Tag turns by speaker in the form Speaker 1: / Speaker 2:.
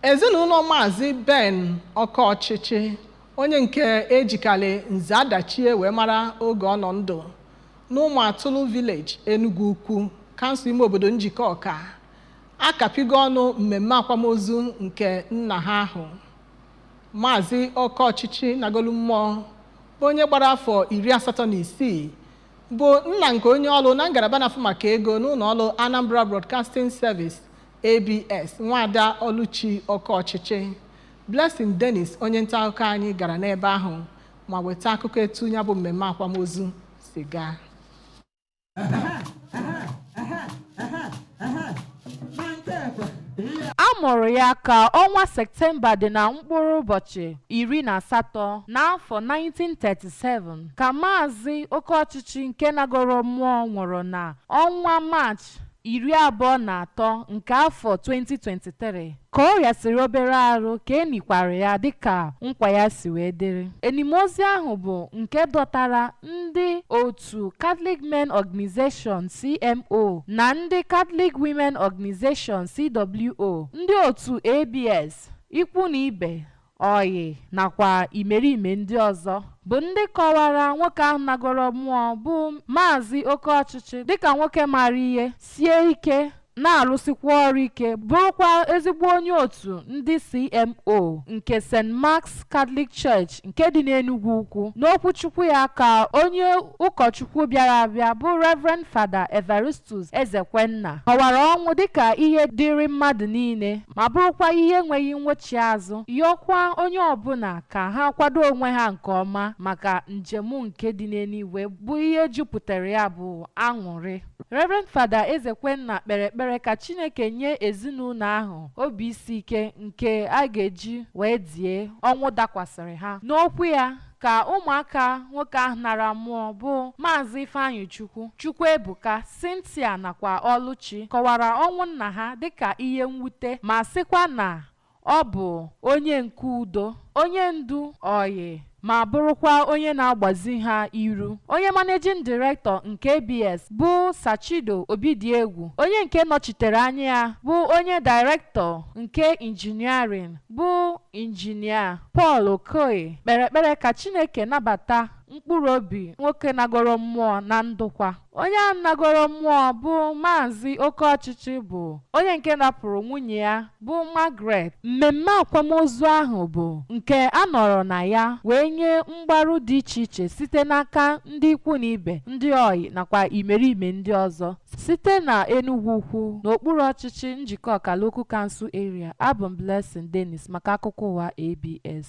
Speaker 1: Ezinụlọ Maazị Ben Okeọchịchị, onye nke e jikalị Nze Adachie wee mara oge ọ nọ ndụ, n'Ụmụatụlụ Village, Enugwu Ukwu, Kansụl Ime Obodo Njikọka, akapịgo ọnụ mmemme akwamozu nke nna ha ahụ. Maazị Okeọchịchị nagolu mmụọ, bụ onye gbara afọ iri asatọ na isii, bụ nna nke onye ọrụ na ngalaba na-afụ maka ego n'ụlọọrụ Anambra Broadcasting Service, ABS Nwada Ọlụchi Okeọchịchị. Blessing Dennis onye nta akụkọ anyị gara n'ebe ahụ ma weta akụkọ etu ya bụ mmemme akwamozu si gaa.
Speaker 2: A mụrụ ya ka ọnwa Septemba dị na mkpụrụ ụbọchị iri na asatọ n'afọ 1937 ka Maazị Okeọchịchị nke nagoro mmụọ nwụrụ na ọnwa Maachị iri abụọ na atọ nke afọ 2023 ka ọ rịasịrị obere arụ ka e nikwara ya dịka nkwa ya si wee dịrị. Enimozu ahụ bụ nke dọtara ndị otu Catholic Men Organisation, CMO, na ndị Catholic Women Organisation, CWO, ndị otu ABS, ikwu na ibe, ọyị nakwa imerime ndị ọzọ bụ ndị kọwara nwoke ahụ nagoro mmụọ bụ Maazị Okeọchịchị dịka nwoke maara ihe, sie ike, na-arụsikwa ọrụ ike, bụrụkwa ezigbo onye otu ndị CMO nke St. Mark's Catholic Church nke dị n'Enugwu Ukwu. N'okwuchukwu ya ka onye ụkọchukwu bịara abịa bụ Rev. Fada Evarist tus Ezekwenna kọwara ọnwụ dịka ihe dịịrị mmadụ niile ma bụrụkwa ihe enweghị nwochi azụ, yọọkwa onye ọbụla ka ha kwado onwe ha nke ọma maka njem nke dị n'eluigwe bụ ihe jupụtara ya bụ aṅụrị. Rev. Fada Ezekwenna kpere ekpere ka Chineke nye ezinụlọ ahụ obi isi ike nke a ga-eji wee die ọnwụ dakwasịrị ha. N'okwu ya, ka ụmụaka nwoke ahụ nara mmụọ bụ Maazị Ifeanyịchukwu, Chukwuebuka, Cynthia nakwa Ọlụchi kọwara ọnwụ nna ha dịka ihe mwute ma sịkwa na ọ bụ onye nke udo, onye ndu, ọyị ma bụrụkwa onye na-agbazi ha iru. Onye Managing Director nke ABS bụ Sir Chido Obidiegwu, onye nke nọchitere anya ya bụ onye Director nke Engineering bụ injinia Paul Okoye kpere ekpere ka Chineke nabata mkpụrụ obi nwoke nagoro mmụọ na ndokwa. Onye ahụ nagoro mmụọ bụ Maazị Okeọchịchị bụ onye nke rapụrụ nwunye ya bụ Margaret. Mmemme akwamozu ahụ bụ nke a nọrọ na ya wee nye mgbaru dị iche iche site n'aka ndị ikwu na ibe, ndị ọyị nakwa imerime ndị ọzọ. Site na Enugwu Ukwu, n'okpuru ọchịchị Njikọka Local Council Area, abụ m Blessing Dennis maka akụkọ ụwa ABS.